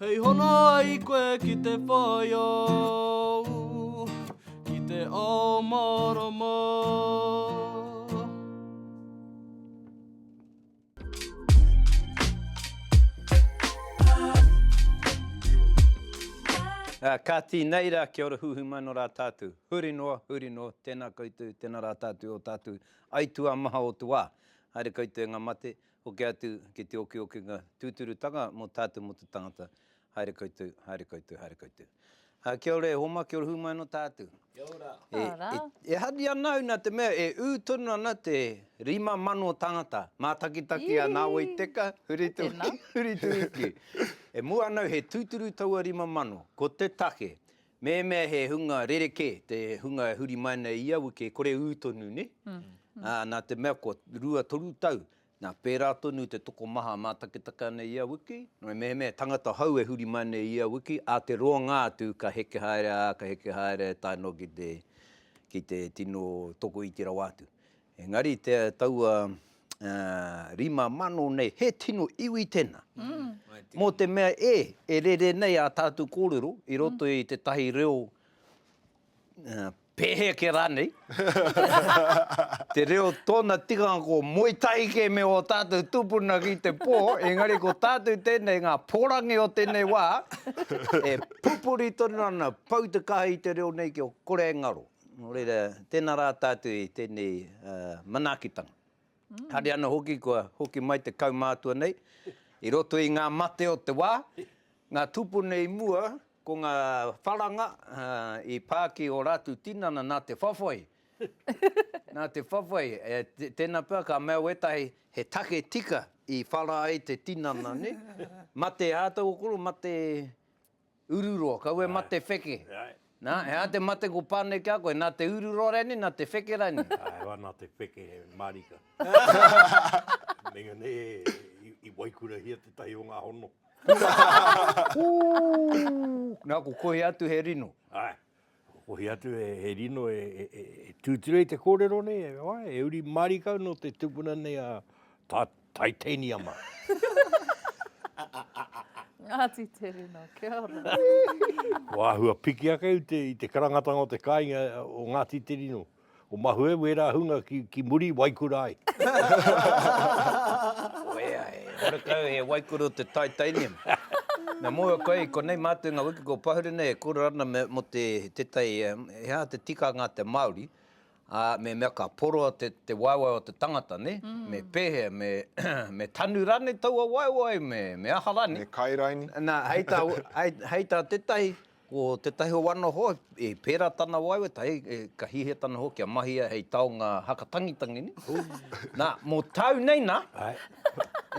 Hei hono ai koe ki te whaio, ki te ao marama. Uh, ka tīnei rā, kia ora huhu mai no rā tātou. Huri noa, huri noa, tēnā koutou, tēnā rā tātou o tātou. Aitua maha o te wā. Haere koutou ngā mate, Hoki atu ki te okiokinga tūturutanga mō tātou mō te tangata. Haere koutou, haere koutou, haere koutou. Ā, kia ora e Homa, kia ora hūmai anō tātou. Kia ora. Kia ora. E, e, e hari ana au nā te mea e ū tonu ana te rima mano tangata. Mātakitaki a Nāwai Teka, Huritu, Huritu Iki. E mua ana au he tūturu taua rima mano. Ko te take, Mehemea he hunga rerekē te hunga e huri mai nei ia wiki e kore ū tonu, nē? Ā, nā te mea kua rua toru tau, nā, pērā tonu te tokomaha mātakitaki ana ia wiki, nō mehemea he tangata hou e huri mai nei ia wiki, ā te roanga atu ka heke haere, ā, ka heke haere tae noa ki te, ki te tino tokoiti rawa atu. Engari te taua rima mano nei, he tino iwi tena. Mo te mea e, e rere nei a tatu korero i roto i te tahi reo peheke ranei, te reo tona tikanga ko moe tahi ke me o tatu tupuna ki te po, engari ko tatu tenei nga porangi o tenei wa, e pupuri tonu ana pau te kaha i te reo nei kia kore e ngaro. Nō reira, tēnā rā tātou i tēnei manaakitanga. Haere ana hoki kua hoki mai te kaumātua nei i roto i ngā mate o te wā, ngā tūpuna i mua, ko ngā wharanga i pā ki ō rātou tinana nā te whawhai, nā te whawhai. Tēnā pea ka mea wētahi he take tika i whara ai te tinana, nē? Mate ātaukoro, mate... Ururoa, kau e mate wheke. Na, he aha te mate ko Pane ki a koe, na te ururoa rainei, na te wheke rainei? Ae hoa, na te wheke, he marika. Meinga nei i waikurahia tetahi o nga hono. Ooh! Na, ko kohi atu he rino. Ae. Kohi atu he rino e tūturu ai te kōrero nei, e wai, e uri marika au nō te tupuna nei a Taitaniama. Ngāti Te Rino, kia ora. Kua āhua piki ake au i te karangatanga o te kāinga o Ngāti Te Rino. Ko mahue wera hunga ki ki muri waikura ai. Koea e. Horekau he waikura o te titanium. Na mua koe konei matou nga wiki ko Pahuri nei e koro ana me mo te te tai he aha te tikanga te Maori a me mea ka poroa te te waewae o te tangata ne me pehea me me tanu ranei taua waewae me me aha ranei. Me kai raini. Na hei ta hei ta tetahi Ko tētahi o ana hoa, i pērā tana waewae, tahi, ka hiahia tana hoa kia mahia hei taonga haka tangitangi nei. Nā, mō tāu nei nā,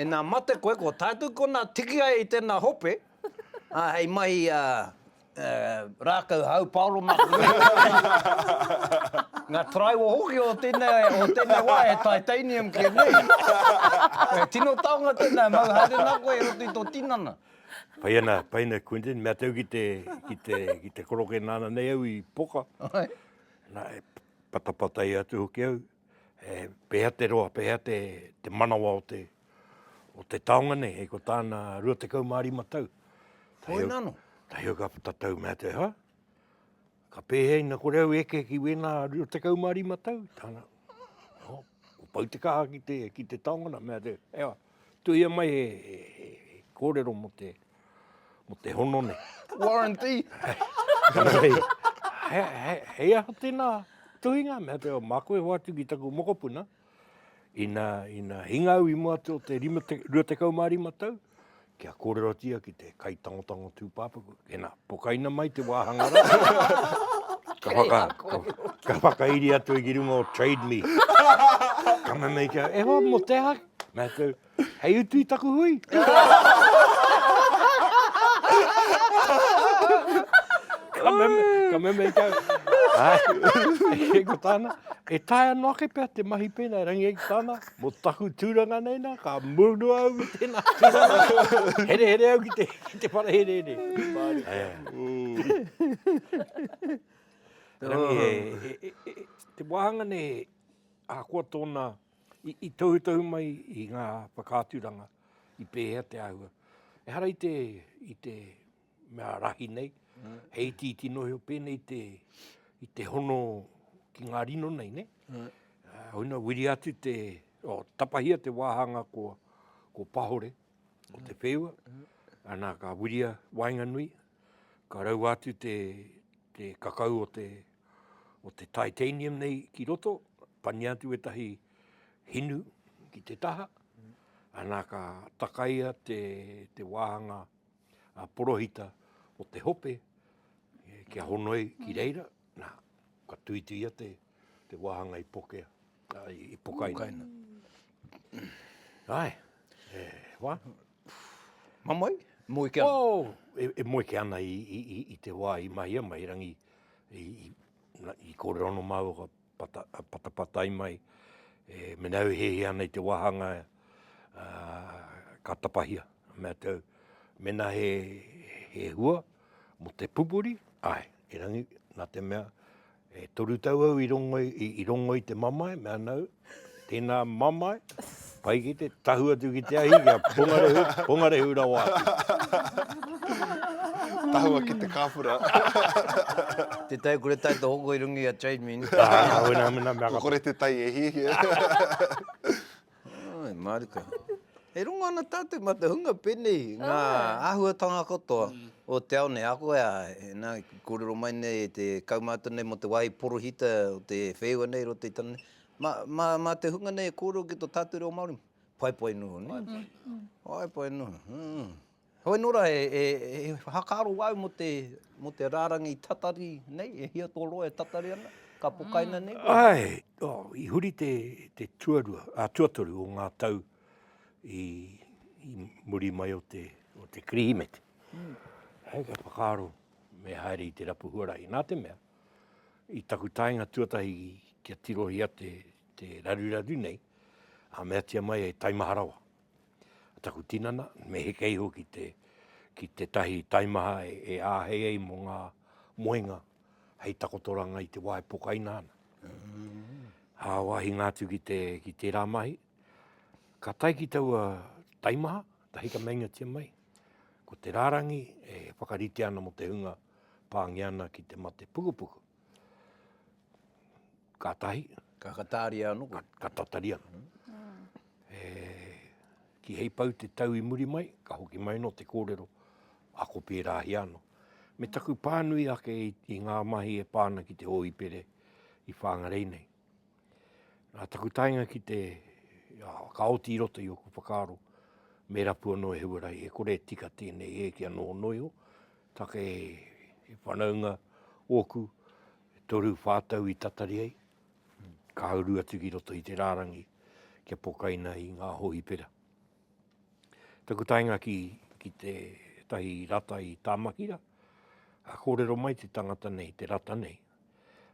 ina mate koe, ko tātou kona tiki ai i tēnā hope, ā, hei mahi rākau hau paoro mā te mea. Ngā taraiwa hoki o tēnei, o tēnei wā e titanium kē nei. Tino taonga tēnā e mau haere nā koe i roto i tō tinana. Pai ana, pai ana Quentin, mea tau ki te, ki te, ki te koroke nāna nei au i poka. Ai. Nā, e patapatai atu hoki au, e, pēhea te roa, pēhea te, te manawa o te, o te taonga nei, hei ko tāna 25 tau. Koina anō. Tahi au ka tatau, mea te, ha? Ka pēhea ina kore au e eke ki wēnā rua tekau mā rima tau? Tāna, oh, ko pau te kaha ki te, ki te taonga nā, mea te, ea, tuhia mai he, he, he, he kōrero mo te, mo te hono nei. Warranty! hei, hei, hei aha tēnā tuhinga? Mea te, mā koe hoatu ki taku mokopuna. Ina, ina hinga au i mua atu o te 25 tau, kia kōrerotia ki te kaitangotango tūpāpaku, ina, pokaina mai te wāhanga rā. ka, whaka, ka, ka whakairi atu i runga o Trade Me. ka mamei kia, e hoa, mo te aha? Nā tau, Hei utu i taku hui. ka meme, ka meme i kau. e ko tāna, e tae anō ake pea te mahi pēnā, e rangi ai ki tāna, mō taku tūranga nei nā, ka murunu au i tēnā tūranga. Here here au ki te, ki te whare here here. Rangi, e, e, e, e, te wāhanga nei, ahakoa tōna, tōna, I tohutohu mai i ngā whakaaturanga i pēhea te āhua. Ehara i te, i te mea rahi nei, he iti iti nohi o pēnei te, i te hono ki ngā rino nei, ne? Hoina, wiri atu te, o, tapahia te wāhanga ko, ko Pahore, ko Te Wheua, ana ka wiria waenganui, Ka raua atu te kakau o te o te titanium nei ki roto, pania atu etahi hinu ki te taha, ana ka takaia te, te wāhanga a porohita o te hope, kia honoi ki reira, na, ka tuituia te, te wāhanga i pokea. I pokaina. Ae, e wha? Mamai, moe ke ana? Oh, e moe ke ana i te wa i mahia mai, erangi i korero no mau ka patapatai mai, e mena au hehe ana i te wahanga ka tapahia. Mea tau, mena he hua mo te pupuri, ae, erangi, na te mea, E toru tau au i rongo i, i rongo i te mamae, me ana au, tēnā mamae, pai ki te tahu atu ki te ahi, kia pongarehu, pongarehu rawa Tahua ki te kāpura. Te tai kore tai te hoko i runga i a Trade Mine. Ko kore te tai e hiahia. Ai, mārika. E rongo ana tātou mā te hunga pēnei, ngā āhuatanga katoa o te ao nei, ako ea, nā, i kōrero mai nei e te kaumātua nei mō te wāhi porohita o te whēua nei i roto i tana, mā, mā, mā te hunga nei e kōrero ki tō tātou reo Māori, pai pai noa, nē? Pai pai noa. Pai pai noa. Heoi nō ra, e whakaaro au mō te, mō te rārangi tatari nei, e hia tō roa e tatari ana, ka pokaina nei koe? Ae, oh, i huri te, te tuarua, a, tuatoru o ngā tau i, i muri mai o te, o te Kirihimete. Hei ka whakaaro, me haere i te rapu huarahi. Nā te mea, i taku taenga tuatahi kia tirohia te, te raruraru nei, a meatia mai e taimaharawa. taku tinana, me heke iho ki te, ki te tahi taimaha e, e āhei ai mō ngā moenga hei takotoranga i te wā e pokaina ana. Mm. Hā wāhi ngā atu ki, te, ki tērā mahi, ka tai ki taua taimaha, tahi ka meingatia mai, ko te rārangi e whakarite ana mo te hunga pāngia ana ki te mate pukupuku. Ka tahi. Ka kataria ano koe. Ka tataria. Ki hei pau te tau i muri mai, ka hoki mai ano te korero, ako perahia ano. Me taku panui ake i nga mahi e pa ana ki te Ohipere i Whangarei nei. Na taku taenga ki te, ka oti i roto i oku whakaaro, me rapu ano e Huarahi, e kore e tika tenei e ki ano ono iho, take e whanaunga oku, E toru whā tau i tatari ai, ka uru atu ki roto i te rārangi kia pokaina i ngā hōhipera. Taku taenga ki, ki te tahi rata i Tāmakira, a kōrero mai te tangata nei, te rata nei,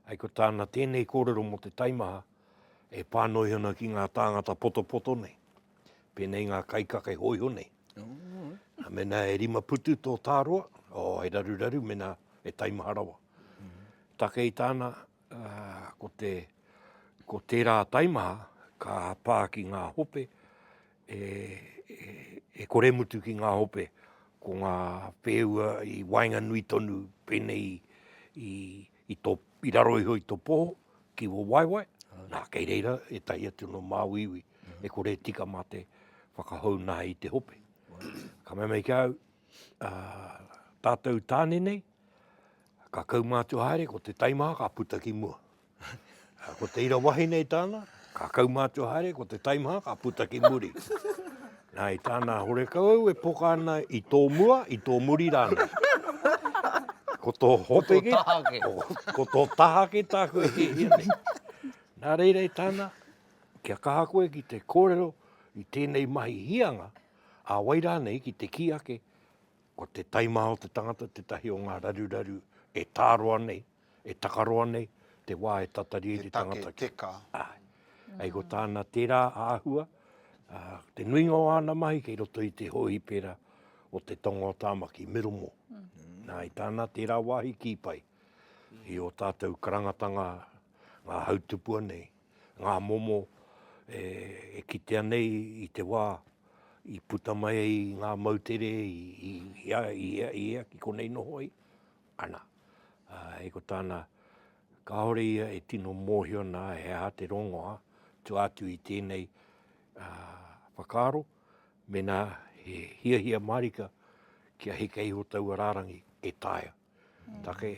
ai ko tāna tēnei kōrero mō te taimaha e pānoiho ana ki ngā tāngata potopoto nei, pēnei ngā kaikake hōiho nei. Ā, mēnā e rima putu tō tāroa, ō, e raruraru mēnā e taimaha rawa. Takei tāna, ko te, ko tērā taimaha ka pā ki ngā hope, e, e, e kore mutu ki ngā hope, ko ngā whēua i waenganui tonu pēnei i, i, i tō, i raro iho i tō poho, ki wō waewae, nā, kei reira ētahi atu nō māuiui e kore e tika mā te whakahou nā i te hope. Ka mea mai ki au, tātou tāne nei, ka kaumātua haere, ko te taimaha ka puta ki mua. Ko te ira wahine i tāna, ka kaumātua haere, ko te taimaha ka puta ki muri. Nā, i tāna horekau au e poka ana i tō mua, i tō muri rānei. Ko tō hope ki, ko tō taha ki tāku e hiahia nei. Nā reira i tāna, kia kaha koe ki te kōrero i tēnei mahi hīanga, ā wai rānei ki te kī ake, ko te taimaha o te tangata tētahi o ngā raruraru e tāroa nei, E takaroa nei te wā e tatari ai te tangata ki. Te take teka. Āe. Hei ko tāna tērā āhua, te nuinga o āna mahi kei roto i te hōhipera o te tonga o Tāmaki, Middlemore. Nā, i tāna tērā wāhi kī pai i ō tātou karangatanga, ngā hautupua nei, ngā momo e kitea nei i te wā i puta mai ai ngā moutere i ea ki konei noho ai, ana. Hei ko tāna, kāore ia e tino mōhio nā he aha te rongoa tua atu i tēnei whakaaro, mēnā he hiahia mārika kia heke iho taua rārangi e taea. Take,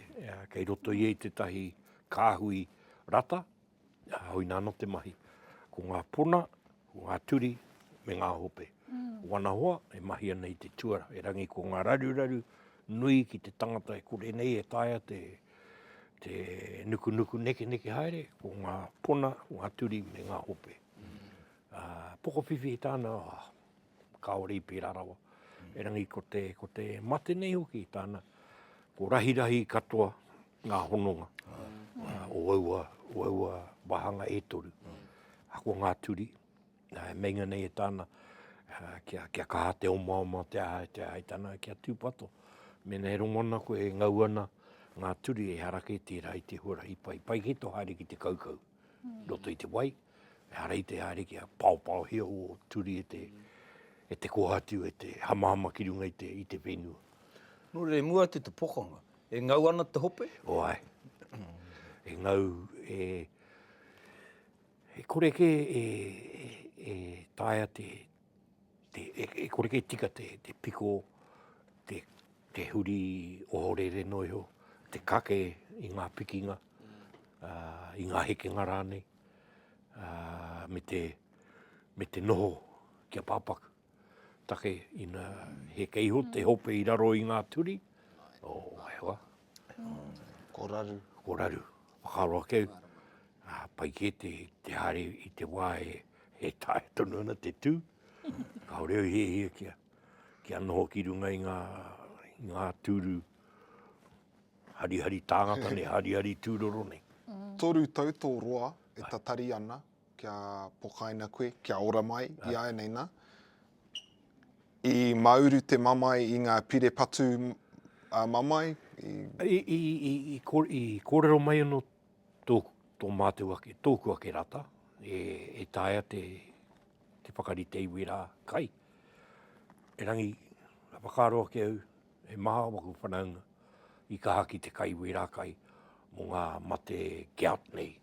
kei roto ia i tētahi kāhui rata, Huina ana te mahi. Ko ngā pona, ko ngā turi, me ngā hope. Wana hoa, e mahi ana i te tuara, e rangi ko ngā raruraru nui ki te tangata e kore nei e taea te te nukunuku nekeneke haere, ko ngā pona, ko ngā turi, me ngā hope. Uh, pokowhiwhi i tāna, oh, kāore i pērā rawa. E rangi ko te, ko te mate nei hoki i tāna, ko rahirahi katoa, ngā hononga o aua, o aua wāhanga e toru. Ahakoa ngā turi, meinga nei e tāna kia, kia kaha te omaoma te aha, te aha, e tāna kia tūpato. Mēnā e rongo ana koe, e ngau ana ngā turi, ehara kē tērā i te huarahi pai. Pai kē tō haere ki te kaukau i roto i te wai, ehara i te haere kia paopaohia ō turi e te, e te kohatu, e te hamahama ki runga i te, i te whenua. Nō reira, i mua atu te pokanga, E ngau ana te hope? O ae. E ngau, e, e kore ke e, e, e taea te, te e, e kore ke tika te, te piko, te, te huri ohorere no iho, te kake i nga pikinga, a, i nga hekenga ranei, a, me te, me te noho kia papaku. take ina heke iho te hope i raro i ngā turi. O, hewa. Ko raru. Ko raru. Whakaaro ake au. Ah, pai kē te, te haere i te wā e, e tae tonu ana te tū. Kāore au he hia kia, kia noho ki runga i ngā, i ngā tūru harihari tāngata nei, harihari tūroro nei. Toru tau tō roa e tatari ana, Kia pokaina koe, kia ora mai iāianei nā. I mauru te mamae i ngā pire patu mamae? I kōrero mai anō tō mātou ake, tōku ake rata, e taea te whakarite iwi rā kai. Erangi, whakaaro ake au, He maha waku whanaunga i kaha ki te kai wera kai mo nga mate geat nei,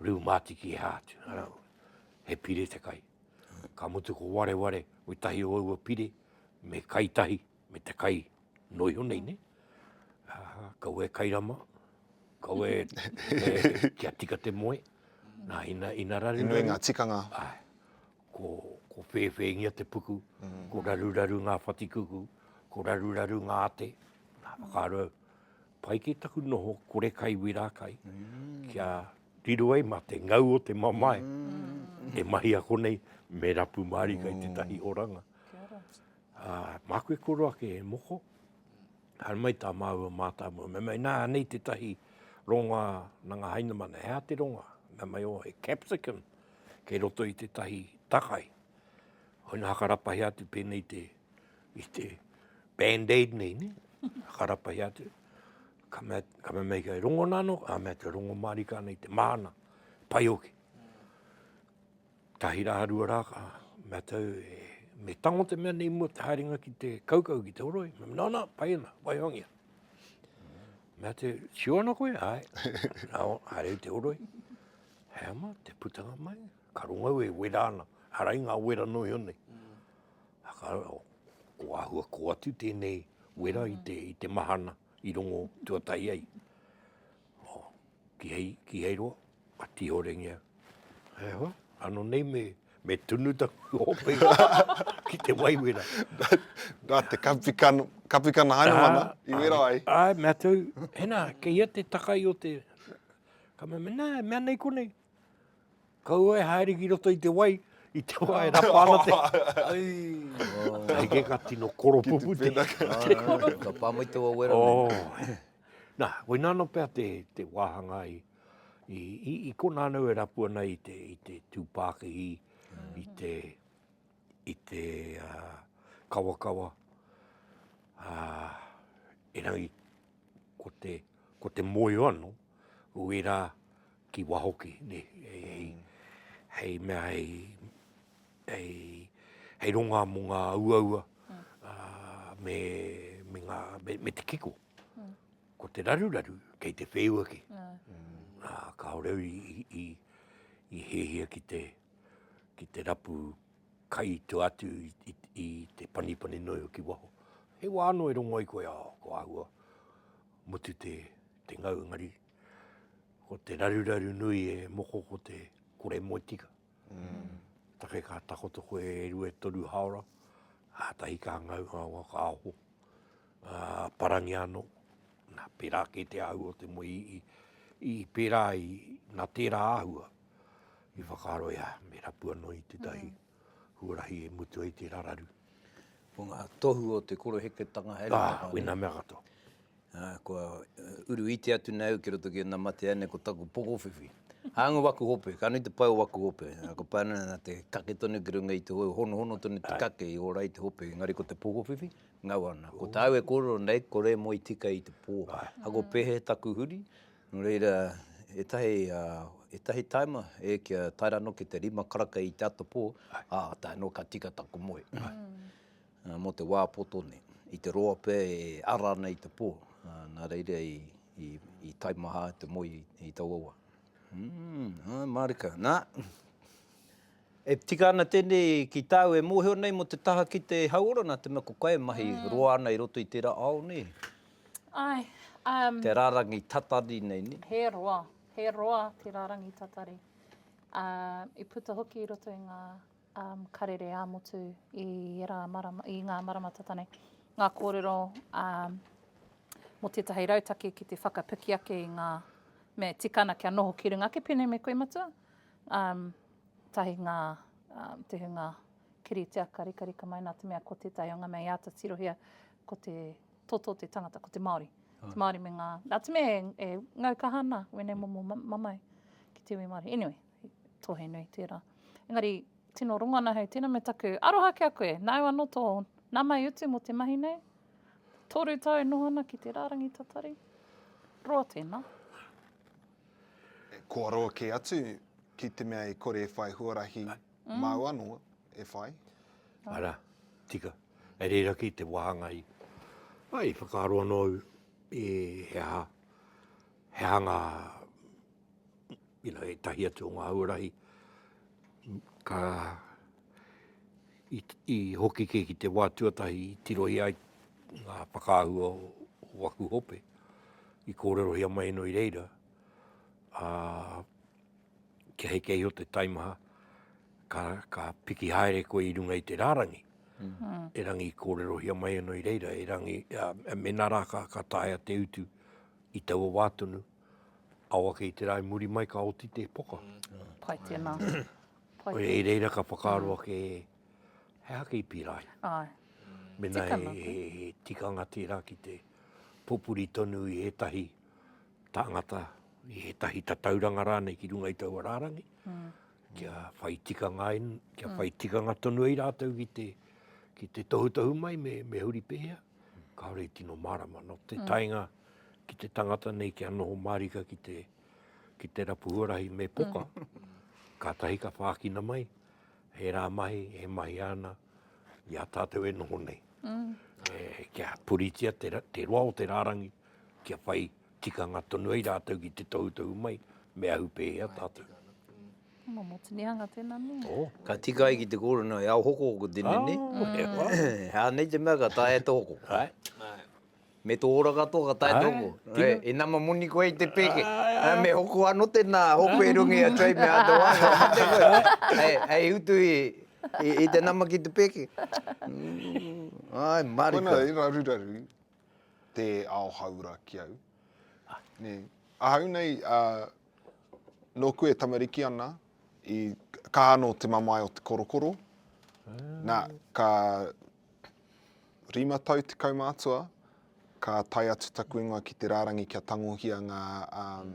riu matiki e ha atu, ara au, he pire te kai. Ka mutu ko wareware we tahi o aua pire, me kai tahi, me te kai no iho nei ne, kaua e kai rama, kaua e kia tika te moe, na ina, ina raru raru. He nui nga tikanga. Ae. ko whēwhēngia te puku, ko raruraru ngā whatikuku, ko raruraru ngā ate, nā, whakaaro au. Pai ki taku noho kore kai wera kai, kia riro ai mā te ngau o te mamae, e mahi ako nei, me rapu mārika i tētahi oranga. Māku e koro ake e moko, haere mai tā māua mātāmua, mea mai, nā, anei tētahi rongoā nā ngā Hainamana, he aha te rongoā? Mea mai, o, he capsicum, kei roto i tētahi takai, hoi hakarapahi atu pēnei te, i te band-aid nei, ne? hakarapahi atu, ka mea, ka mea mei kai rongo nano, a mea te rongo marika nei te mahana, pai hoki. Tahi rā, rua rā, ka mea tau, e, me tango te mea nei mua te haerenga ki te kaukau, ki te oroi, me no, no, pai ana, waihongia. Mea te, sure ana koe, ai, no, haere te oroi. He ama te putanga mai, ka rongau e wera ana, arai ngā wera noio nei. Ko āhua kō atu tēnei wera i te, i te mahana i rongo tuatahi ai. Oh, ki hei, ki hei roa, a tihorengia. He hoa, ano nei me, me tunu ta hope ki te wai wera. Nā te kapikana, kapikana haina mana, i wera ai. Ai, mea tau, hena, ke ia te takai o te, Ka mea, mena, e mea nei konei, kaua e haere ki roto i te wai, i te wai e rapa ana te... Hei ke ka tino koropupu te... Ka pāmai te wawera. Oh. Nā, koe nāna pea te, te wāhanga i, i, i, i kona anau e rapu ana i te, i te tūpākihi, mm. i te, i te uh, kawakawa. Uh, erangi ko te, ko te moe ano, ui ra ki wa hoki, ne, hei, hei mea, hei, hei, hei ronga mo nga uaua, me, me nga, me te kiko. Ko te raruraru, kei te wheua ke. Kaore au i, i, i hehia ki te, ki te rapu, Kai to atu i te panipani noi o ki waho. He wa ano e rongo ai koe a ko ahua. Mutu te, te ngau engari. Ko te raruraru nui e moko ko te kore moe tika. Mm. Take ka takoto koe e rua e toru haora. A tahi ka ngau a wa ka aho. A parangi ano. Na pera ke te ahua te moe i, i, i pera i na tera ahua. I whakaaro ia me rapu anō i tētahi huarahi e mutu ai tērā raru. Ko ngā tohu o te koroheketanga haere mai. Ā, wēnā mea katoa. Ā, kua uru iti atu nei au ki roto ki ēnā matea nei ko taku pokowhiwhi. Hāunga waku hope, ka nui te pai o waku hope. Ā, kua pai ana nā te kake tonu ki runga i te hoe, honohono tonu te kake i ora ai te hope, engari ko te pokowhiwhi, ngau ana. Ko tāu e kōrero nei, ko Rēmoi tika i te pō. Ā, ko Pehe taku huri, Nō reira, ētahi, ētahi taima, e, kia tae rā noa ki te rima karaka i te atapō, ā, tae noa ka tika taku moe. Ā, mō te wā poto nei, i te roa pea e ara ana i te pō, ā, nā reira i, i, i taimaha te moe i taua wā. Ū, ā, mārika, nā. E tika ana tēnei ki tāu e mōhio nei mō te taha ki te hauora nā te mea ko koe e mahi roa ana i roto i tērā ao nei. Ai, um. Te rārangi tatari nei, ne? He roa, he roa te rārangi tatari. Uh, i puta hoki i roto i ngā um, karere ā-motu i, era marama, i ngā marama tata nei. Ngā kōrero um, mō tētahi rautaki ki te whakapiki ake i ngā mea tikana kia noho ki runga ake pēnei me koe matua. Um, Tahi ngā tuhinga kiritea ka rikarika mai nā te mea ko tētahi o ngā mea i āta tirohia ko te toto o te tangata, ko te Māori. Te Māori me ngā, nā te mea e ngau kaha ana wēnei momo mamae ki te iwi Māori. Anyway, tohe nui tērā. Engari, tino rongo ana hei tēnā me taku aroha ki a koe. Nāu anō tō nāmai utu mō te mahi nei. Tōru tau e noho ana ki te rārangi tatari. Roa tēnā. Kua roa kē atu ki te mea e kore e whai huarahi māu anō e whai. Arā, tika. Kei reira kē te wāhanga i. Āe, i whakaaro anō au i he aha, he aha ngā, you know, ētahi atu o ngā huarahi ka. i hoki kē ki te wā tuatahi i tirohia ai ngā whakaahua o aku hope, i kōrerohia mai anō i reira, ā, kia hei kē iho te taimaha, ka, ka piki haere koe i runga i te rārangi, mm. erangi i kōrerohia mai anō i reira, erangi, ā, mena rā ka, ka taea te utu i taua wā tonu, aoake i te rā i muri mai ka oti te poka. Mm. Pai tēnā. Koia, i reira ka whakaaro ake, he aha kei pīrae? Āe. Mēnā he tikanga tērā ki te pupuri tonu i ētahi tāngata, i ētahi tatauranga rānei ki runga i taua rārangi, kia whai tikanga ai, kia whai tikanga tonu ai rātou ki te, ki te tohutohu mai me, me huri pēhea, kāore i tino mārama. Nō te taenga ki te tangata nei kia noho mārika ki te. ki te rapu huarahi me poka, kātahi ka whākina mai, he rā mahi e mahia ana i a tātou e noho nei. Mm. E, kia puritia te, te roa o te rārangi, kia whai tikanga tonu ai rātou ki te tohutohu mai, me ahu pēhea tātou. Mō mō tinihanga tēnā me. Oh. Ka tika ai ki te kōrana e ao hoko ko tēnei nei. Oh, he wā. Hānei te mea ka tae e te hoko. Hai. Hai. Me tō ora katoa ka tae tō mō. He. E nama moni koe i te pēke. Me hoko ano tēnā hopu e runga i a Trade me Hard Wire. He mate koe. Hei utu i te nama ki te pēke. Ai marika. Koina i raruraru te ao haura ki au. Ahau nei nōku e tamariki ana i kaha anō te mamae o te korokoro. Nā, ka. Rima tau te kaumātua, ka tae atu taku ingoa ki te rārangi kia tangohia ngā um,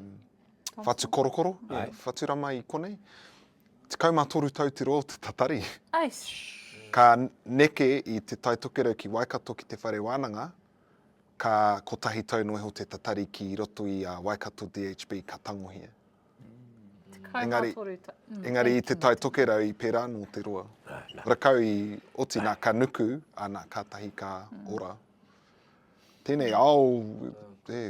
whatu korokoro, yeah, whatu rama i konei. Tekau mā toru tau te roa o te tatari. Ka neke i te tai tokerau ki Waikato ki te whare wānanga, ka kotahi tau noa iho te tatari ki roto i a Waikato DHB ka tangohia. Engari, mm, engari i te tai tokerau i pērā anō te roa. Rakau i oti nā ka nuku, ana ka tahi ka mm. ora. Tēnei ao, e,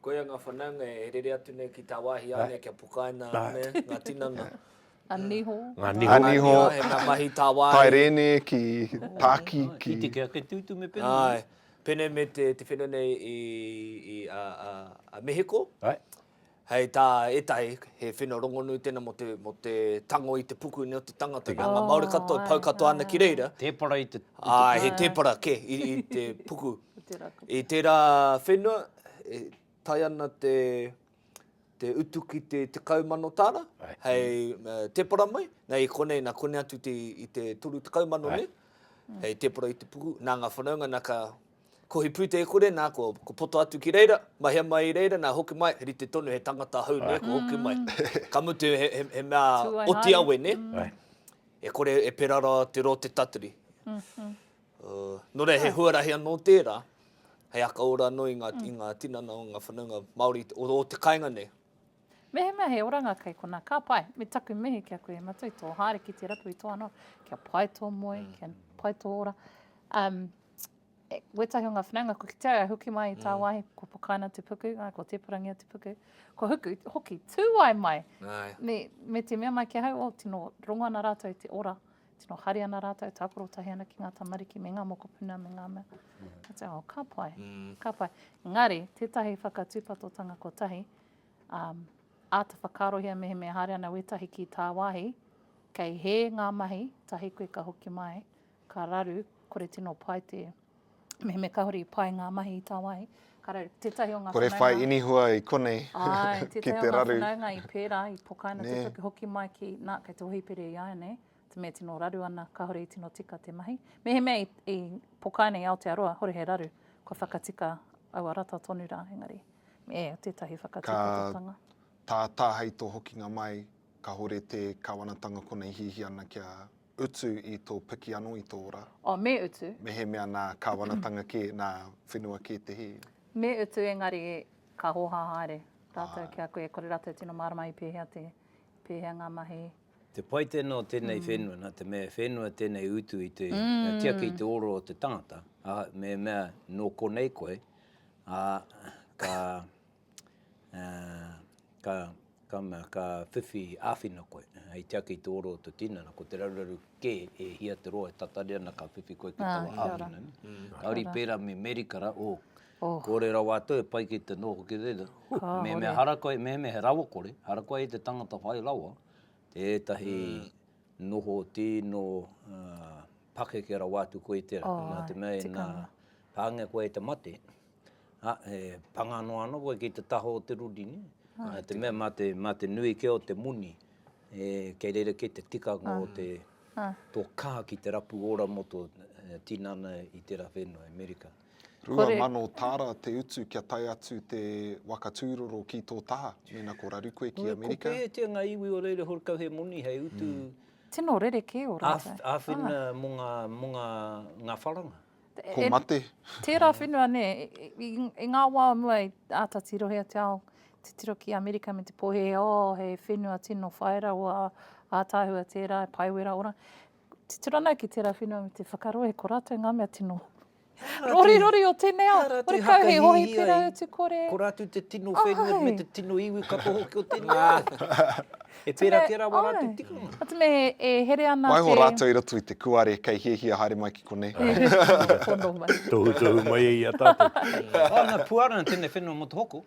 Koia ngā whanaunga e rere atu nei ki tā wāhi āne kia pukaina ane ngā tinana. A niho. Ngā niho. A niho. He ngā mahi tā wāhi. Tae rēne ki tāki ki. Ki te kia ke tūtu me pēnei. Ai. Pēnei me te, te whenua nei i, i a, a, a Mehiko. Ai. Hei tā ētahi, he wheno rongonu tēnā mō te, mō te tango i te puku nei o te tangata, nā ngā Māori katoa e pau katoa ana ki reira. Tēpara i te puku. Āe, he tēpara kē i, i te puku. I tērā whenua, e tae ana te, te utu ki te tekau mano tāra, hei tēpara mai, nei i konei, nā konei atu te, i te toru tekau mano nei, hei tēpara i te puku, nā ngā whanaunga nā ka Ko he pūtekore nā, ko, ko poto atu ki reira, mahea mai i reira, nā hoki mai, he rite tonu, he tangata hou, nē, ko hoki mai. Ka mutu he, he, he mea oti awe, nē. E kore e pera ra te ro te tatari. Nō reira, he huarahi anō tērā, hei aka ora anō i ngā, i ngā tinana o ngā whanaunga Māori o, o te kainga nei. Mehemea he oranga kei konā, ka pai. Me taku mihi ki a koe e Matua i tō haere ki te rapu i tō anō, kia pai tō moe, kia pai tō ora. Um, e, wētahi o ngā whanaunga, ko ki te ai, huki mai i tāwāhi, ko pakaina te puku, ai, ko tēparangia te puku, ko huku, hoki, tū ai mai. Ai. Me, me te mea mai ki ahau, o, tino rongo ana rātou i te ora, tino hari ana rātou, tākoro tahi ana ki ngā tamariki, me ngā mokopuna, me ngā mea. Mm. Ka pai, mm. ka pai. Ngari, tētahi whakatūpatotanga kotahi, Āta whakaarohia mehemea haere ana wētahi ki tāwāhi, kei hē ngā mahi, tahi koe ka hoki mai, ka raru, kore tino pai te mehemea kāore i pai ngā mahi i tāwāhi, ka raru. Tētahi o ngā whanaunga. Kore whai inihua i konei ki te raru. Āe, tētahi o ngā whanaunga i pērā, i pokaina te toki hoki mai ki, nā, kei te hōhipera i a ia nei, Me tino raru ana, kahore i tino tika te mahi. Mehemea i, i pokaina i Aotearoa, hore he raru, kua whakatika aua rata tonu rā, engari, e, tētahi whakatikototanga. Ka tātā hei tō hokinga mai, kahore te Kawanatanga kona i hihi ana kia utu i tō piki anō i tō ora. Oh, me utu. Mehemea nā Kawanatanga kē, nā whenua kē te hī. Me utu, engari, ka hōhā haere rātou ki a koe, kore rātou tino mārama i pēhea te, pēhea ngā mahi. Te pai tēnā o tēnei whenua, nā te mea e whenua tēnei utu i te tiaki i te oro o te tangata, ā, me mea nō konei koe, ā, ka, ā, ka, ka mea, ka whiwhi āwhina koe hei tiaki i te oro o te tinana, ko te raruraru kē e hia te roa e tatari ana ka whiwhi koe ki taua āwhina nei. Kāore i pērā me Merikara, ō, Kore rawa atu e pai ki te nō hoki reira. Mehemea hara koe, mehemea he rawakore, hara koe i te tangata whai rawa, tētahi noho tīno pakeke rawa atu koe i te rā. Nā te mea ina pāngia koe e te mate, he panga noa ana koe ki te taha o te ruri. Nā te mea mā te nui kē o te moni, kei reira kē te tikanga o te tō kaha ki te rapu ora mō tō tinana i tērā whenua i Amerika. Rua mano tāra te utu kia tae atu te waka tūroro ki tō taha, mēnā ko raru koe ki Amerika. Ko pēhētia ngā iwi o reira horekau he moni hei utu. Tino rerekē o rātou. Āwhina mō ngā, mō ngā, ngā wharanga. Ko mate. Tērā whenua nē, i ngā wā o mua i āta tirohia te ao, te tiro ki Amerika me te pōhēhē, oh, he whenua tino whai rawa, ātaahua tērā, e pae wera ora. Titiro ana ki tērā whenua me te whakarohe ko rātou ngā mea tino rorirori o tēnei ao. Ka rātou hakahihiai, ko rātou te tino whenua me te tino iwi katoa hoki o tēnei ao. E pērā kē rawa rātou tikanga. Āe, me e here ana te... Waiho rātou i roto i te kuare kei hiahia haere mai ki konei. Tohutohu mai e i a tātou. Āna puarana tēnei whenua motohoko.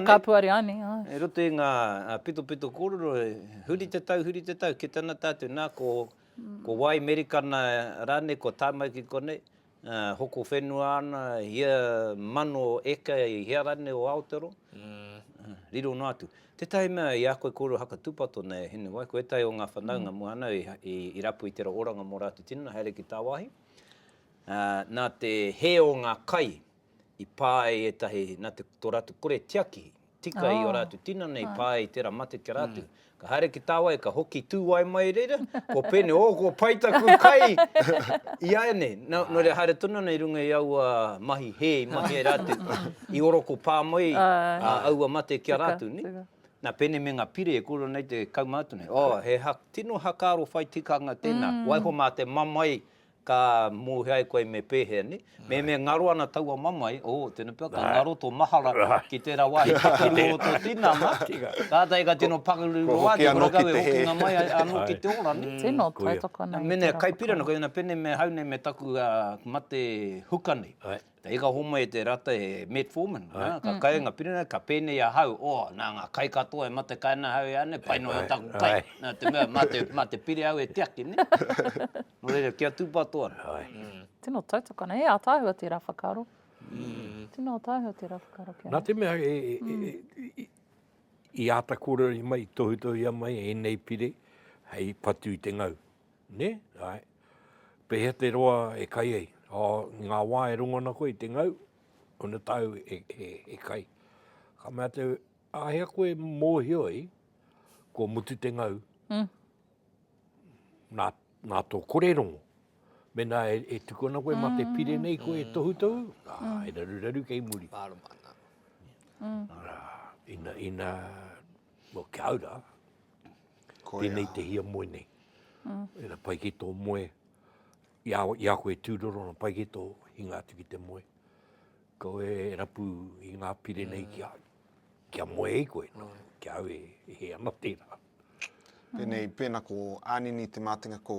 Ka puare ani. E roto i nga pitopito korero, huri te tau, huri te tau, kita na tatou, na ko wai Merikana ranei, ko tamau ki konei, hoko whenua ana ia mano eka i hea ranei o Aotero, riro no atu. Tetahi mea i a koe korero haka tupato nei e Hinewai, ko etahi o nga whanaunga mo ana i rapu i tera oranga mo ratou tinana haere ki tawahi, na te he o nga kai, i pā ai ētahi nā te, tō rātou kore tiaki, tika i ō rātou tinana i pā ai i tērā mate ki a rātou. Ka haere ki tāwai, ka hoki tūwae mai i reira, kua pēnei, ō, kua pai taku kai iāianei. Nō, nō reira haere tonu ana i runga i aua mahi hē i mahi ai rātou, i oroko pā mai aua mate ki a rātou, nē. Nā, pēnei me ngā pire e kōrero nei te kaumātua nei, ō, he ha, tino hakaaro whai tikanga tēnā, waiho mā te mamae Ka mōhio ai koe me pēhea, nē? Me me ngaro ana taua mamae, ō, tēnā pea, ka ngaro tō mahara ki tērā wāhi pakaru o tō tinana, kātahi ka tino pakaru noa atu, kua kau e hokinga mai anō ki te ora, nē? Tino tautoko nei. Mēnā e kaipira ana koe, mēnā pēnei me hau nei me taku mate huka nei, Te hika homai e te rata e metformin, ka kai nga piringa, ka penei a hau, oh, na nga kai katoa e mate kai ana hau e ane, pai noa taku kai, na te mea, ma te pire au e tiaki, ne? No reira, kia tupato ana. Tino tautoko ana, he ataahua tera whakaaro. Tino ataahua tera whakaaro kia. Na te mea, i ata korero mai, tohutohia mai enei pire, hei patu i te ngau. Ne? Ae. Pehea te roa e kai ai? Oh, i nga wa e rongo ana koe i te ngau, ona tau e kai. Ka mea te, ahea koe e mohio ai, kua mutu te ngau, na, na to kore rongo. Mena e tuku ana koe ma te pire nei koe e tohutohu, a, e raruraru kei muri. Marama ana. Ina, ina, well, kia ora, Tēnei te hiamoe nei. Ina pai ki tō moe, i a, i a koe e tūroro ana, pai ki tō hinga atu ki te moe. Kaua e rapu i ngā pire nei kia, kia moe ai koe, nō, kia au e, e hē ana tērā. Pēnei, pēnā ko Ānini Te Mātenga ko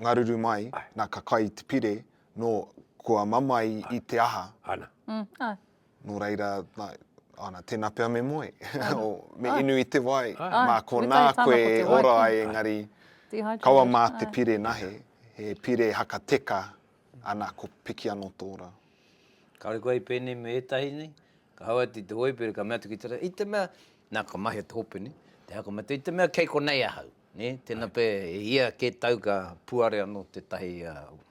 Ngaruru mai, nā ka kai te pire, nō kua mamae i te aha. Ana. Nō reira, ana, tēnā pea me moe, me inu i te wai, mā konā koe e ora ai engari, kaua mā te pire nahe, he pire haka teka, ana, ko piki anō tō rā. Kāore koe hei pēnei me ētahi nei, ka hau atu i te hōipi, ka mea atu ki te rā, i te mea, nā, ka mahia te hope, nē, te haka matua, i te mea kei konei ahau, nē, tēnā pea, e hia kē tau ka puare anō tētahi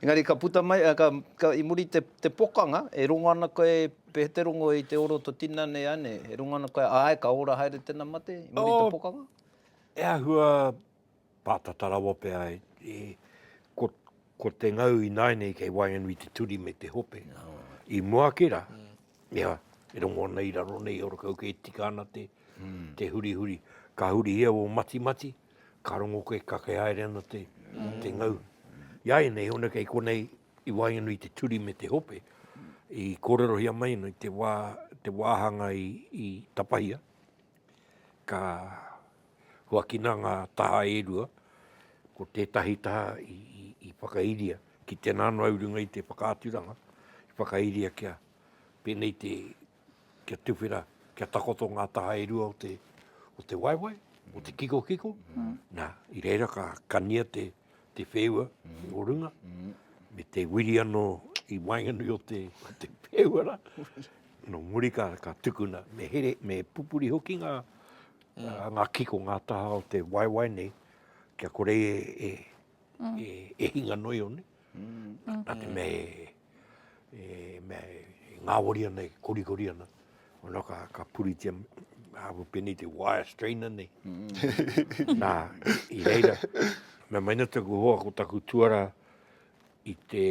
Engari ka puta mai, i muri te pokanga, e rongo ana koe, pēh te rongo i te ora o to tina nei ane, e rongo ana koe, ae, ka ora haere tena mate, i muri te pokanga? E ahua patata rawa pea, ko te ngau i naenei kei waenganui te turi me te hope, i mua ake ra, ia, e rongo ana i raro nei, ora kau kei tika ana te hurihuri, ka hurihia o matimati, Ka rongo koe, ka kei haere ana te ngau. I a ianei, hone kei konei i waenganui te turi me te hope, i kōrerohia mai ana i te wā, te wāhanga i tapahia, ka huakina ngā taha e rua, ko tētahi taha i whakairia ki tēnā noa i runga i te whakaaturanga, i whakairia kia pēnei te. kia tuwhera, kia takoto ngā taha e rua o te, o te waewae, o te kikokiko, nā, i reira ka kania te, te wheua o runga, me te wiri anō i waenganui o te, o te wheua rā. Nō muri ka, ka tukuna, me here, me pupuri hoki ngā, ngā kiko, ngā taha o te waewae nei, kia kore e, e, e hinga noio nei, nā te mea e, e mea e, e ngāwari ana, e korikori ana. Ona ka, ka puritia hapu penei te wire strainer nei. Mm. Nā, i reira, mea mai na taku hoa ko taku tuara i te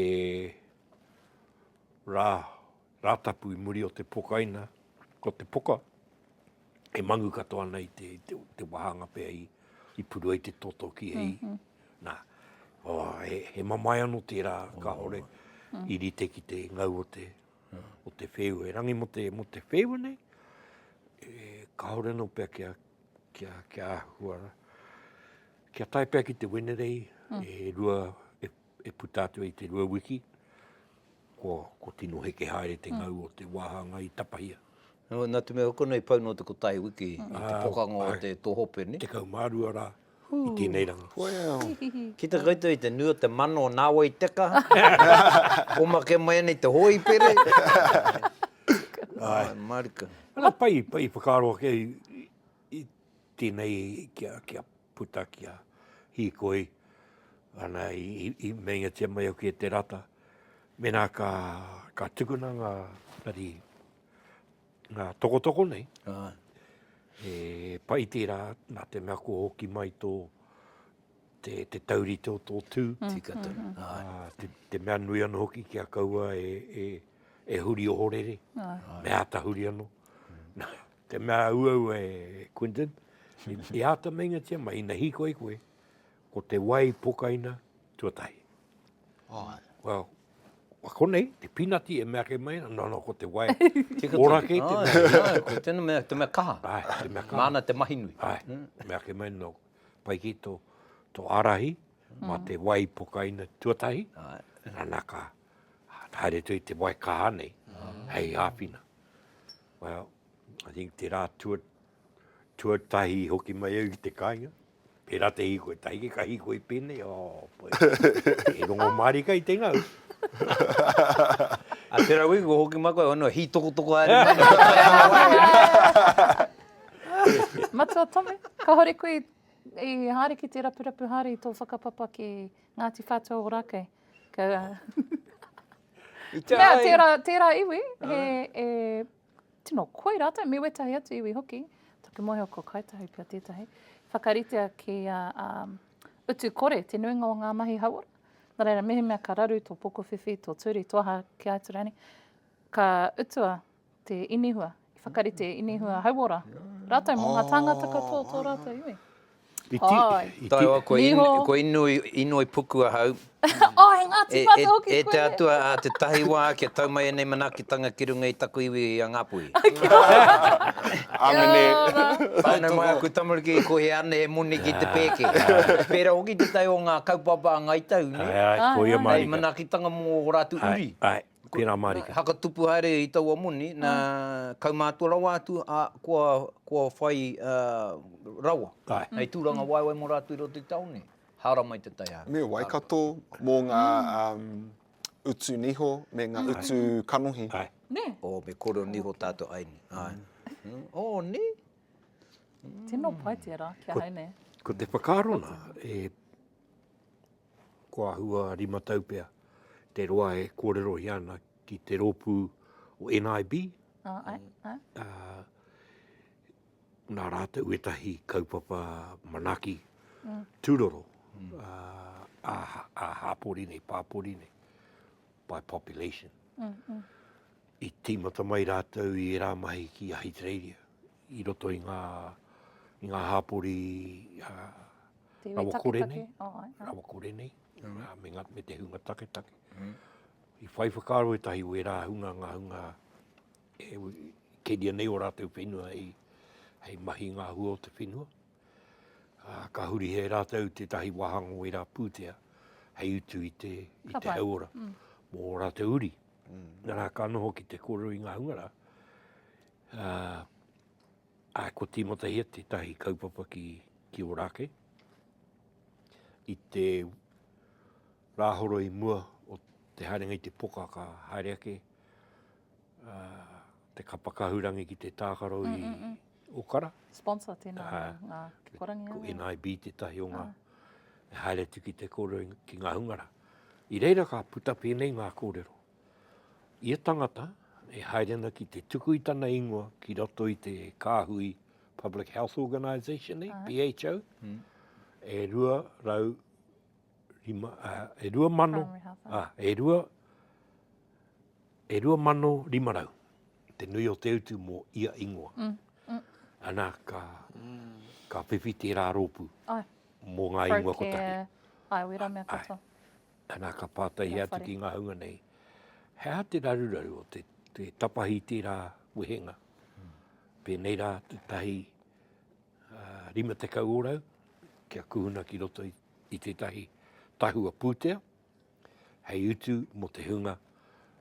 rā, rātapu i muri o te pokaina, ko te poka, e mangu katoa ana i te, te, te wāhanga pea i, i puru ai te toto ki e i. Mm -hmm. Nā, oh, he, he mamae anō tērā, oh. ka hore, mm. i rite ki te ngau o te, yeah. o te whēu. E rangi mo te, mo te whēu nei, e, ka hore anō pea kia, kia, kia ahua. Kia tai pea ki te Wenerei, mm. e rua, e puta atu ai te rua wiki, kua, kua tino heke haere te ngau o te wāhanga i tapahia. Nō, nā te mea konā i pau nō te kotahi wiki i te pokanga o te tōhope, nē? Tekau mā rua rā i tēnei ranga. Well! Kita koutou i te nui o te mana o nāwai teka, komake mai ana i te hōipere. Ai, mārika. Pai, pai whakaaro ake I tenei kia kia puta kia hikoi ana i meingatia mai aku e te rata mena ka ka tukuna nga tari nga tokotoko nei. Aye. E pai tera na te mea ko hoki mai to te te taurite o to tu. Mm. Tika tau. Mm. Aye. Ah, te, te mea nui ano hoki kia kaua e e e huri ohorere. Aye. Mea tahuri ano. Mm. Te mea auau e Quinton, i āta meingatia mai, ina hīkoi koe, ko te wai pokaina tuatahi. Ai. Well, wa konei, te pinati e mea ke mai, no, no, ko te wai. Ora kei te mea. Ai, ai, ko tēnā mea, te mea kaha. Ai, te mea kaha. Māna te mahi nui. Ai, mm. mea ke mai, no, pai ki to, to arahi, mm. ma te wai pokaina tuatahi. Ai. Nana ka, haere tui te wai kaha nei, mm. hei hāpina. Well, I think te rā tua, tuatahi hoki mai au ki te kāinga. Pērā te hīkoi, tahi ki ka hīkoi pēnei, oh, poi. e rongo mārika i te ngau. a te rau iku hoki mai koe, ono hī toko toko haere mai. Matua Tome, ka hore koe i haere ki te rapurapu haere i tō whakapapa ki Ngāti Whātua Ōrākei. Ka... I te Mea, ae. Tērā, tērā iwi, he, e, tino koi rātou, me wētahi atu iwi hoki. Taku mōhio ko Kāi Tahu pea tētahi. Whakaritea ki a um, utu kore te nuinga o ngā mahi hauora. Nā reira, mehemea ka raru tō pokowhiwhi, tō turi, tō aha ki Aotearoa ka utua te inihua, i whakarite e inihua hauora ratou mo nga tangata katoa o to ratou iwi. I ti, i ti. Ko Inui, ko Inui, Inui puku ahau. oh, he Ngāti Whātua e, hoki e, e koe. E te atua a te tahi wā kia tau mai enei manakitanga ki runga i taku iwi i a Ngāpuhi. Amene. Whānau mai aku tamariki i kohi ane he moni ki te pēke. Pēra hoki te tai o ngā kaupapa a Ngāi Tahu, ne? Ai, ai, koia marika. Hei manakitanga mō o rātu uri. Ai, ai. Tēnā mārika. Nā, hakatupu haere i taua moni, nā, kaumātua rawa atu, ā, kua, kua whai, ā, rawa. Āe. Hei tūrangawaewae mō rātou i roto i te tāone, hāora mai te taiārahi. Me Waikato, mō ngā, ā, utu niho me ngā utu kanohi. Āe. Nē. Oh, me kōrero niho tātou, āe nē. Āe. Oh, nē. Tino pai tērā ki ahau, nē. Ko te whakaaro nā, e, Ko Ahua Rimataupea te roa e kōrerohia ana ki te rōpū o NIB. Oh, ai, ai. Uh, nā rātou etahi kaupapa manaki mm. tūroro mm. Uh, a, a hāpori nei, pāpori nei, by population. Mm, mm. I tīmata mai rātou i rā mahi ki Ahitereiria. i roto i ngā, i ngā hāpori a rawa kore nei, rawa kore nei, me, nga, me te hunga taketake. Mm. I whai whakaaro e tahi wērā hunga ngā hunga e keria nei o rātou whenua hei, hei mahi ngā hua o te whenua. Uh, ka huri he rātou tētahi wāhanga o wērā pūtea hei utu i te, i te hauora mm. mō rātou uri. Mm. Nā rā ka noho ki te kōrero i ngā hunga rā, Ā, ko Tīmatahia tētahi kaupapa ki Ōrākei. I te rāhoro i mua o te haerenga i te poka ka haere ake te kapa kahurangi ki te tākaro i Okara. Sponsor tēnā ngā kikorangi. Ko NIB tētahi o ngā haere atu ki te kōrero ki ngā hungara. I reira ka puta pēnei ngā kōrero. Ia tangata e haere ana ki te tuku i tana ingoa ki roto i te kāhui Public Health Organisation nei, PHO, e rua rau rima, uh, e rua mano, uh, e rua, e rua mano rima rau, te nui o te utu mō ia ingoa. Mm. Mm. Ana ka, mm. ka whiwhi tērā rōpū. Ai mō ngā ingoa kotahi. Ai, wera mea katoa. Ana ka pātaihia atu ki ngā hunga nei, he aha te raruraru o te, te tapahi tērā wehenga? Pēnei rā te tahi uh, rima te kau orau, kia kuhuna ki roto i, i te tahi tahua pūtea, hei utu mo te hunga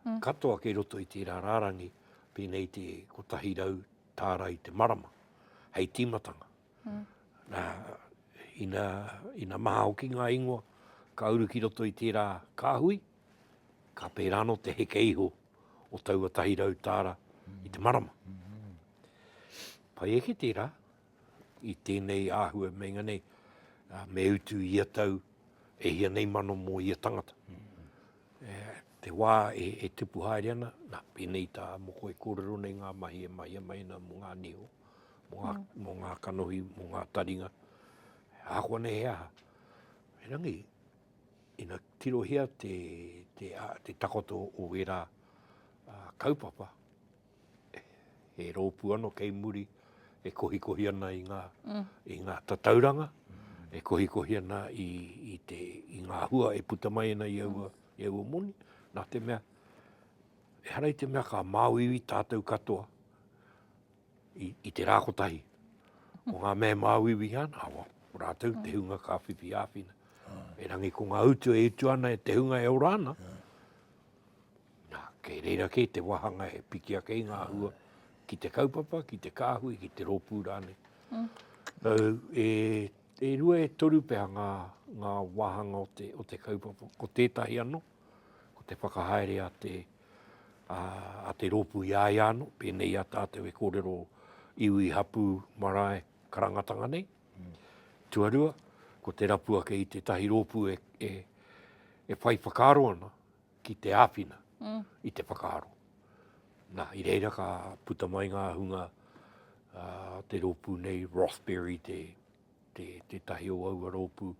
mm. katoa kei roto i tērā rārangi, pēnei te kotahi rau tāra i te marama, hei tīmatanga. Ina maha hoki ngā ingoa ka uru ki roto i tērā kāhui, ka pērā anō te heke iho o taua tahi rau tāra i te marama. Pai ake tērā i tēnei āhua meinga nei me utu i ia tau e hia nei mano mō ia tangata. Te wā e tupu haere ana, nā, pēnei tā Moko e kōrero nei ngā mahi e mahia mai ana mō ngā niho. mō ngā kanohi, mō ngā taringa, he āhua nei he aha. Erangi, ina tirohia te, te, te takoto o wērā uh, kaupapa, he rōpū ano kei muri, e kohikohi ana i ngā, mm. i ngā tatauranga, e kohikohi ana i, i, te, i ngā hua e puta mai ana i aua, i aua moni, nā te mea, e harai te mea ka māuiwi tātou katoa, i te rā kotahi. Ko ngā mema au iwi ana, awa, ko rātou te hunga ka whiwhi āwhina. Erangi ko ngā utu e utu ana e te hunga e ora ana. Nā, kei reira kei te wahanga e piki ake i ngā hua ki te kaupapa, ki te kāhui, ki te rōpū rāne. Mm. So, e, e rua e toru pea ngā, ngā wāhanga o te, o te kaupapa. Ko tētahi anō, ko te whakahaere a te, a te rōpū i a ia anō, pēnei i a tātou e kōrero iwi, hapū, marae, karangatanga nei. Tuarua, ko te rapu ake i tētahi rōpū e, e, e whai whakaaro ana ki te āwhina mm. i te whakaaro. Nā, i reira ka puta mai ngā hunga uh, te rōpū nei, Rothberry, te, te, te tahi o aua rōpū,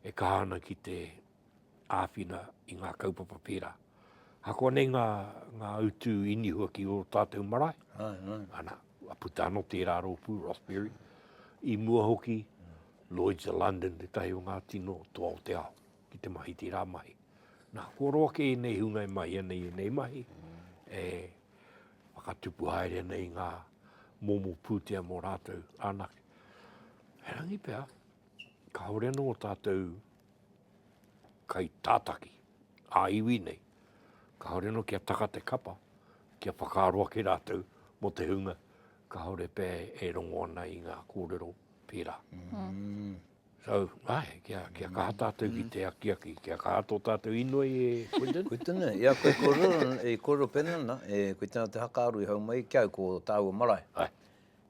e kaha ana ki te āwhina i ngā kaupapa pērā. Ahakoa nei ngā, ngā utu inihua ki o tātou marae, ai, ai. ana, a puta anō tērā rōpū, Rothbury, i mua hoki, Lloyds of London, te tahi o ngā tino toa o te ao, ki te mahi tērā mahi. Nā, kua roa ke nei hunga e mahi ana i nei mahi, e whakatupu haere ana i ngā momo pūtea mō rātou anake. He rangi pea, ka hore anō o tātou kai tātaki ā iwi nei, kāore anō kia taka te kapa, kia whakaaro ake rātou mō te hunga kāore pea e rongo ana i ngā kōrero pērā. Mm. So, ai, kia, kia mm. kaha tātou ki mm. te akiaki, kia kaha tō tātou inoi e Quinton. Quinton, e, ia koe kōrero, e kōrero pēnana, e koe tēnā te hakaaro i hau mai, kia au ko tāua marae. Ai.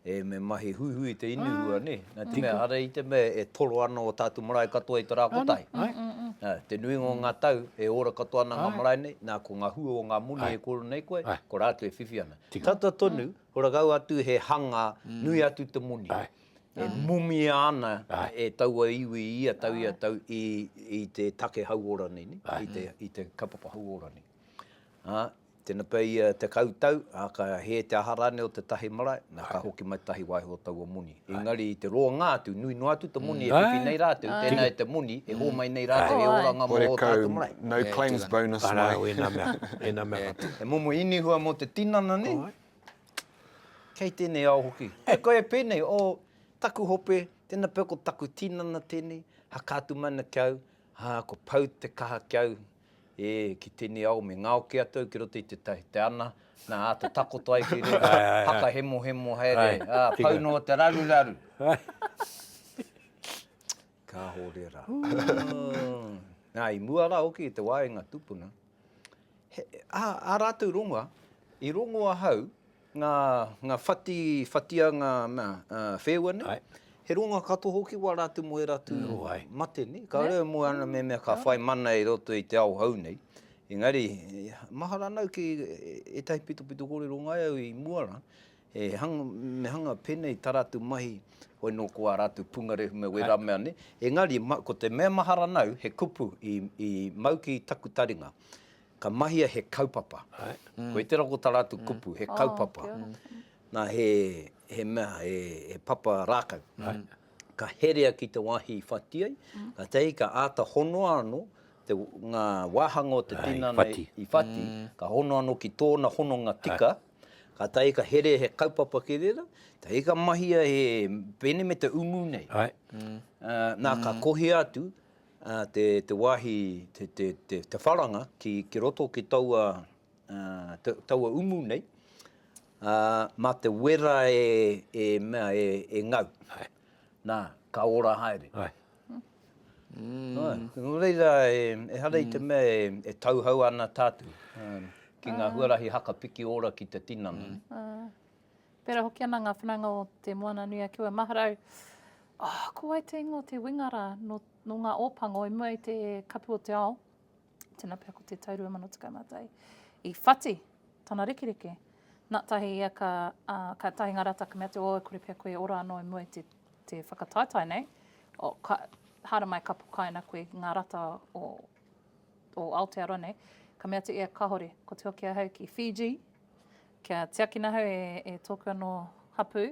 E, me mahi huihui te inihua, nē. Nā te mea, ara i te mea e toro ana ō tātou marae katoa i te rā kotahi. Nā, te nuinga o ngā tau, e ora katoa ana ngā marae nei, nā, ko ngā hua o ngā moni e kōrero nei koe, ko rātou e whiwhi ana. Tata tonu, ko rātou atu he hanga, nui atu te moni. E mumia ana e taua iwi i ia tau, i ia tau, i, i te take hauora nei, nē, i te, i te kaupapa hauora nei. Ā, Tena pea ia e tekau tau, a ka hē te aha rānei o te tahi marae, na ka hoki mai tahi waehu o taua moni. Engari i te roanga atu, nui noa atu te moni e whiwhi nei rātou, tēnā e te moni e hōmai nei rātou e oranga mō ō tātou marae. Horekau, no claims bonus mai. Arā, ēnā mea, ēnā mea katoa. He momo inihua mō te tinana nei. Kei tēnei ao hoki. Hei koe e pēnei, o, taku hope, tēna pea ko taku tinana tēnei, haka atu mana ki au, a, kua pau te kaha ki au, E, ki tenei ao me ngaoke atu au ki roto i te tahi, te ana, na, te takoto ai ki reira, whakahemohemo haere, a, pau no te raruraru. Kaho rera. Na, i mua ra hoki i te wa i nga tupuna, he, a, a ratou rongoa, i rongo ahau, Nga nga whati whatia nga mea wheua nei. Ae. He ronga katoa hoki wa ratu mo era tu mate nei. Ka rere mo ana me mea ka whai mana i roto i te ao hau nei. Engari mahara ana au ki etahi pitopito korero ngai au i mua la, e hanga me hanga penei ta ratu mahi hoi no ko a ratu pungarehu me wera mea nei. Engari ko te mea mahara ana au he kupu i mau ki taku taringa. Ka mahia he kaupapa. Koe te rakotara atu kupu, he kaupapa. Na, he, he mea, he, he papa rākau. Ka herea ki te wāhi i whati ai, kātahi ka āta honoa anō te, ngā wāhanga o te tinana i whati, ka honoa anō ki tōna hononga tika, kātahi ka herea he kaupapa ki reira, kātahi ka mahia he pēne me te umu nei. Na, ka kohia atu, ā, te, te wāhi, te, te, te, te wharanga ki, ki roto ki taua, ā, ta, taua umu nei, ā, mā te wera e, e mea, e, e ngau. Hai. Nā, ka ora haere. Hai. Mm. Hai. Nō reira, e, ehara mm. i te mm. mea e, e tauhau ana tātou, ā, ki ngā huarahi haka piki ora ki te tinana. Mm. Pērā hoki ana ngā whanaunga o Te Moana-nui-a-Kiwa, Maharau, oh, ko wai te ingoa o te winga rā, nō, nō ngā Ōpango, i mua i te Kapu o te Ao, tēnā pea ko te tau 2011, i whati tana rekereke. Nā, tahi ia ka, uh, ka tahi ngā rata ka mea te, oh, e kore pea koe e ora anō i mua i te, te whakataetae nei, o, ka, haramai ka pukaina koe ngā rata o, o Aotearoa nei, ka mea te ia kahore, ko te hoki ahau ki Fiji, Kia tiakina hau e, e tōku anō hapū,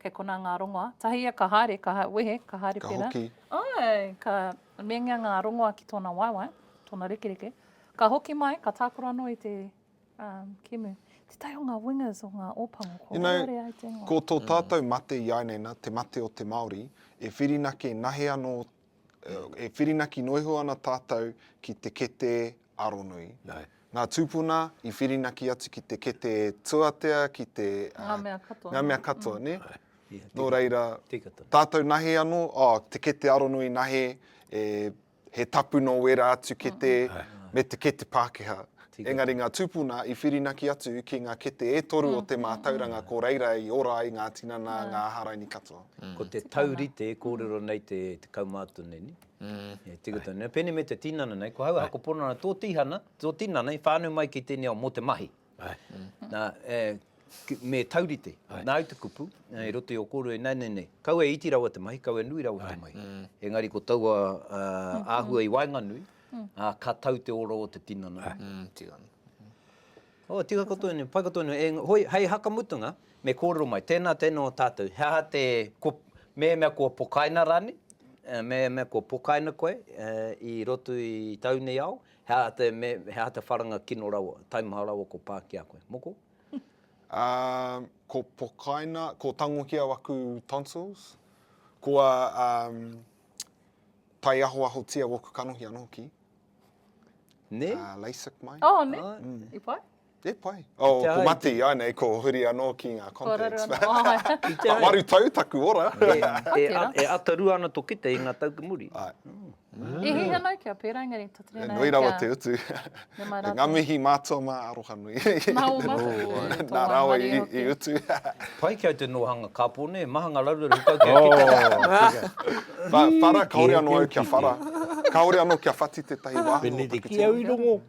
kei konā ngā rongoa. Tahi ia ka haere, ka ha, wehe, ka haere ka pērā. Ka hoki. Āe, ka meingia ngā rongoa ki tōna waewae, tōna rekereke. Ka hoki mai, ka tākaro anō i te um, kēmu. Tētahi o ngā wingers o ngā Ōpango, ko you know, Rōre ai te ingoa. Ko tō tātou mate i āineina, te mate o te Māori, e whirinaki, e nahe anō E whirinaki noa iho ana tātou ki te kete aronui. Ngā tūpuna i whirinaki atu ki te kete tuatea, ki te... Ngā mea katoa. Ngā mea katoa, nē? Nō reira, tātou nahe anō, oh, te kete aronui nahe, he tapu nō wērā atu kete, me te kete Pākehā. Engari ngā tūpuna i whirinaki atu ki ngā kete e toru o te mātauranga ko reira i ora ai ngā tinana, ngā aharaini katoa. Ko te taurite e kōrero nei te kaumātua nei, e tika tonu nei, pēnei me te tinana nei, ko hau ako pono ana tō tihana, tō tinana i whānau mai ki tēnei ao mō te mahi. Nā, me taurite, nā au te kupu, i roto i ō kōrero i nāianei nei, kaua e iti rawa te mahi, kaua e nui rawa te mahi. Engari ko taua āhua i waenganui, ā, ka tau te ora o te tinana. Tika ana. Oh, tika koutou anei, pai koutou anei. Engari, hoi, hei hakamutunga, me kōrero mai, tēnā, tēnā o tātou. He aha te, ko, mehemea kua pokaina rānei, mehemea kua pokaina koe i roto i tau nei ao, he aha te, me, he aha te wharanga kino rawa, taimaha rawa kua pā ki a koe? Moko? Um, ko pokaina, ko tangohia aku tonsils, kua, um, Taiahoahotia oku kanohi ano hoki. Ne? Uh, LASIK mai. Oh, ne? Oh. I pai? E pai. Oh, ko mati ai nei, ko huri anō ki ngā contacts. Ko waru tau taku ora. e, e, e atarua ana to kite i ngā tau ki muri. Ai. Mm. Mm. E hei anau kia pērā, engari He nui rawa te utu. Nga mihi mātua mā Arohanui. Nā o Mahuki. Nā rāua i utu. Pai ki au te nohanga kapo ne, maha nga raruraru hukau kia kite. Whara, kaore ano au kia whara. Kaore ano kia whati tetahi waho. Benedictine. Ki au i rongo.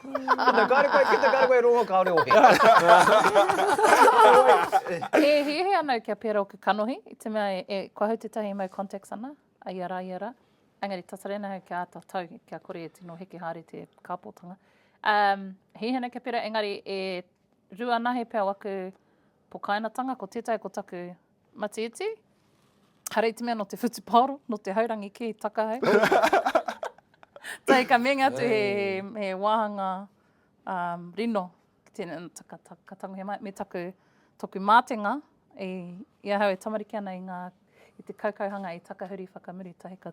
Ana, kaore koe kite, kaore koe rongo, kaore ohe. E hiahia ana au kia pera oku kanohi, i te mea e koa au tetahi e mau contacts ana. A ia rā, ia rā. Engari tata rēnei hau kia āta tau, kia kore e tino heke haere te kāpōtanga. Um, hihina kia pera, engari e rua anahe pea waku pokainatanga, ko tētahi ko taku matiiti, harei te mea no te whutupaoro, no te haurangi kē taka hei. Tahi ka meinga atu he, he, he wāhanga um, rino Tēnā, ka, ka, ka tangohia mai, me taku, toku mātenga, i, i ahau e tamariki ana i ngā, i te kaukauhanga i takahuri whakamuri tahi ka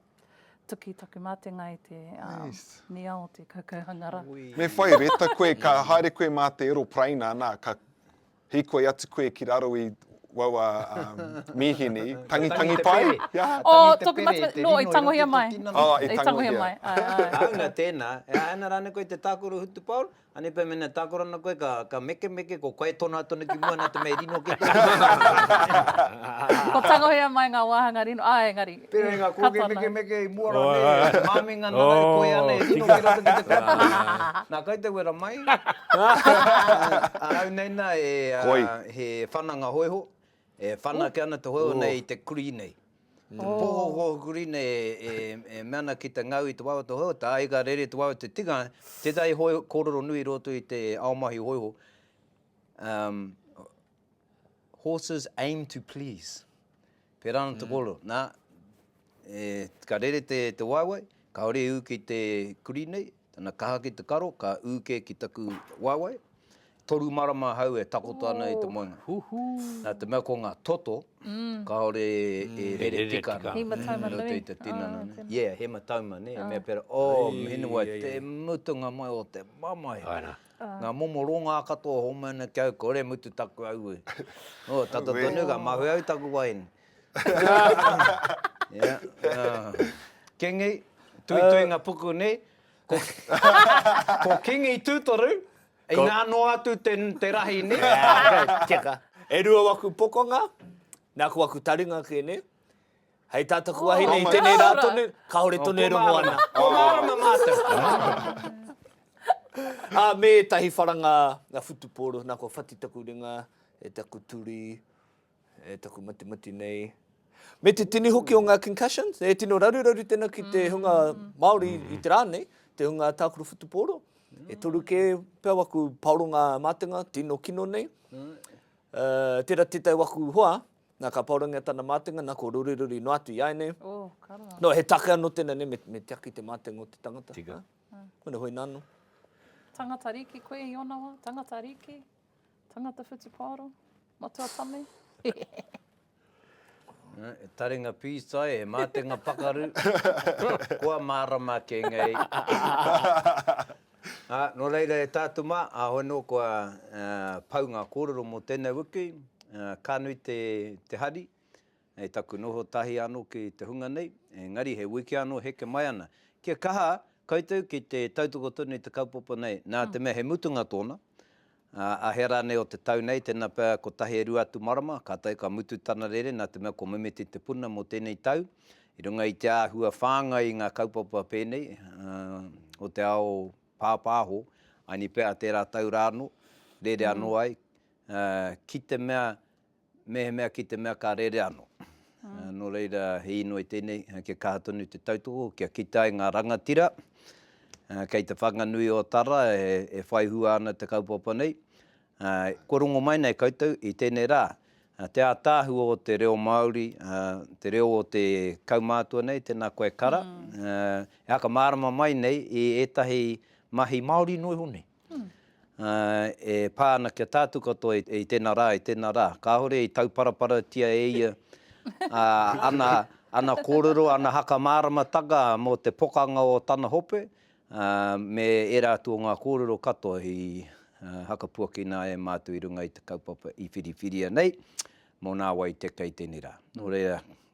tuki taku mātenga i te um, yes. nia o te kaukauhanga ra. Me whai reta koe, ka haere koe mā te aeropraina, nā, ka hikoi atu koe ki raro i wawa um, mihini, tangi tangi pai. Yeah. O, oh, toku matu, no, i tangohia mai. Oh, i tangohia mai. Auna tēnā, e aena rāne koe te tākoro hutupaoro, Anei pea mena takora na koe ka mekemeke ko koe tono atu ana ki mua na te mea e rino ake te aroha. Ko tangohia mai nga wahanga rino a engari i katoa na. Pera nga koke mekemeke i mua ra nei e maminga na nau koe ana e rino ki roto ki te katoa na kai te wera mai. Auneina he whananga hoiho E whanake ana te hoiho nei i te kurī nei. Te pohoho kurī nei e mea ana ki te ngau i te wawe o te hoiho, te aiga rere i te wawe o te tikanga, tētahi kōrero nui i roto i te ao mahi hoiho, Horses aim to please. Pērā ana te kōrero. E, ka rere te, te waewae, kāore i ū ki te kurī nei, tana kaha ki te karo, ka ū kē ki taku waewae. Toru marama ahau e takoto ana i te moenga. Huhū! Nā te mea ko ngā toto, kāore e rere tika ana. He matauma nui. I roto i te tinana nei. Tēnā. Yeah, he matauma, nē, e mea pērā, Oh, Mīnawai, te mutunga mai o te mamae. Āe rā. Ngā momo rongā katoa e hōmai ana ki au, kore mutu taku aue. Oh, tata tonu, ka mahue au i taku wahine. Kingi, tuituinga puku nei, ko Kingi Tutoru, inā noa atu te rahi nei. Tika. E rua waku pokonga, nā ko waku taringa kē nei. Hei tā taku wahine i tēnei rā tonu, kāore tonu e rongo ana. Ko mārama mātou. Ā, me ētahi wharanga whutupōro, nā kua whati taku ringa, e taku turi. E taku matimati nei. Me te tini hoki o ngā concussions, e tino raruraru tēnā ki te hunga Māori i te rā nei, te hunga tākuru whutupōro. E toru kē pea waku paoronga mātenga, tino kino nei. Uh, tērā tētai waku hoa, nā ka paorangia tana mātenga, nā ko ruriruri noa atu i ai nei. Oh, no, he take anō tēnā nei, me, me tiaki te mātenga o te tangata. Tika. Huh? Kona hoi nāno. Tangata riki koe i ona wā? Tangata riki? Tangata whutupaoro, matua tame. E taringa pītai, e mātenga pakaru, kua mārama ake ngei. Ā, nō reira e tā te mā, āhoi anō kua pau ngā kōrero mō tēnei wiki, ka nui te hari, Hei taku noho tahi ano ki te hunga nei, engari he wiki ano heke mai ana. Kia kaha koutou ki te tautoko tonu i te kaupapa nei, na te mea he mutunga tona, a hea ranei o te tau nei, tena pea kotahi e rua atu marama, ka tae ka mutu tana rere, na te mea ko Memeti Te Puna mo tenei tau, i runga i te ahua whangai i nga kaupapa penei, o te ao papaho, ani pea tera tau ra ano, rere ano ai, ki te mea Mehemea ki te mea ka rere ano. No reira he inoi tenei kia kaha tonu te tautoko kia kita ai nga rangatira kei te Whanganui o Tara e whai hua ana te kaupapa nei. Kua rongo mai nei koutou i tenei ra te atahu o te reo Maori, te reo o te kaumatua nei, tena koe Kara, e whakamarama mai nei i etahi mahi Maori no iho nei. e pā ana ki a tātou katoa i tēnā rā, i tēnā rā. Kāore i tauparaparatia e ia ana kōrero, ana haka māramataka mō te pokanga o tana hope, me ērā atu o ngā kōrero katoa i hakapuakina ai e mātou i runga i te kaupapa i whiriwhiria nei, mō nā wai te kei tēnei rā. Nō reira,